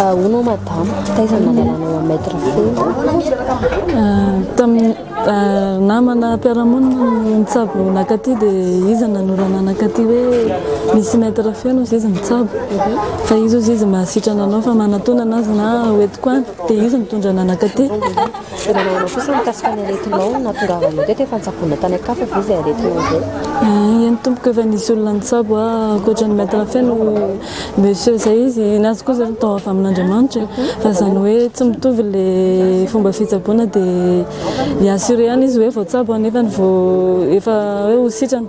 Ahoana ao madama? Taiza no nanalanao an'i Maître Feo? Namana mpiara-monina no nitsabo nankaty dia izy nanorana nankaty hoe misy Maître Feo hozy izy mitsabo fa izy hozy izy mahasitrana anao fa manantonana azy na hoentiko any dia izy nitondra anah nankaty. Dia nanahona kosa mikasika ny aretinao ny nahatongavanao teto efa nitsaboana tany an-kafa ve izay aretinao izay? Eny tompoko efa nisy olona nitsabo ahy ankoatra ny maître feno monsieur izay izy ny azy koa izao natao avy amin'Andriamanitra e fa izany hoe tsy mitovy ilay fomba fitsaboana dia hi-assurer ihany izy hoe voatsabo aho nefany vao efa hoe ho sitrana.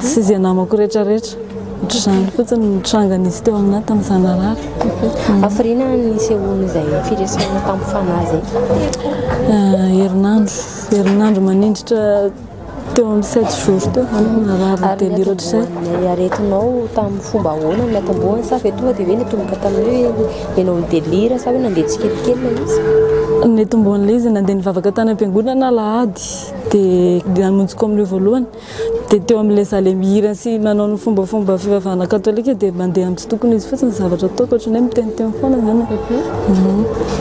sy izay namako rehetra rehetra. Ohatr'izany fotsiny ny nitranga nisy teo aminay tamin'ny zanarary. Hafiriana ny nisehoany izay firesahana tamin'ny fanahy izay teto. Eh, herinandro, herinandro manindritra teo amin'ny sept jours teo zany narary ny delire ohatr'izay. Ny aretinao tamin'ny fomba ahoana ny natombohany sa ve tonga dia hoe nitomboka tamin'ny hoe ianao ny delire sa hoe nandeha tsikelikely ilay izy? Nitombohan'ilay izy nandeha nivavaka tany am-piangonana alahady dia namonjy koa amin'ireo voalohany. Dia teo amin'ilay izaho ilay mihira sy manao ny fombafomba fivavahana katolika dia mandeha amin'ny tsy tokony izy fotsiny ny zavatra ataoko ohatran'ny hoe miteniteny foana izany aho.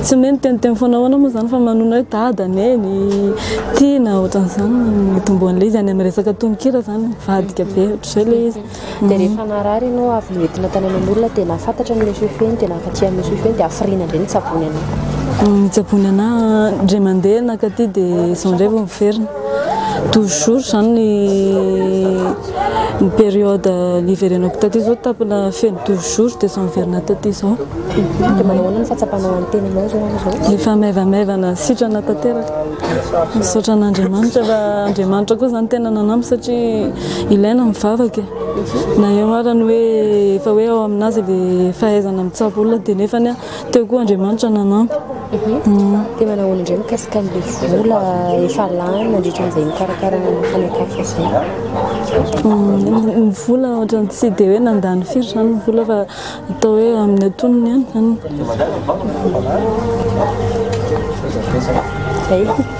Tsy ny hoe miteniteny foana ahoana moa izany fa manonona hoe dada, neny, tiana, ohatran'izany no itomboan'ilay izy. Any amin'ny resaka tononkira izany mivadika be ohatr'izay ilay izy. dia rehefa narary ianao avy noentina tany aman'olona dia nahafantatra ny monsieur feny dia nahafatia ny monsieur feny dia hafiriana indray nitsabony anah nitsabony anah indray mandeha nakaty dia izao indray vao miverina toujours izany ny ny période niverenako taty izao tapina feno toujours dia izao miverina taty izao dia manao ny fahatsapanao an'ny tenanao izao amin'izao efa maivamaivana sitrana tanteraka misaotra an'Andriamanitra fa Andriamanitra koa izany tena nanampy satria Ilaina ny vavaka e! Na eo ara ny hoe efa hoe ao amin'azy le fahaizana mitsabo olona dia nefany teo koa Andriamanitra nanampy. Dia manao ahoana indray mikasika an'ilay vola efa lany nandritra an'izay nikarakarana ny fanekafo izay? Ny vola ohatran'ny tsy dia hoe nandany firy izany ny vola fa atao hoe amin'ny antonony ihany izany. Zay.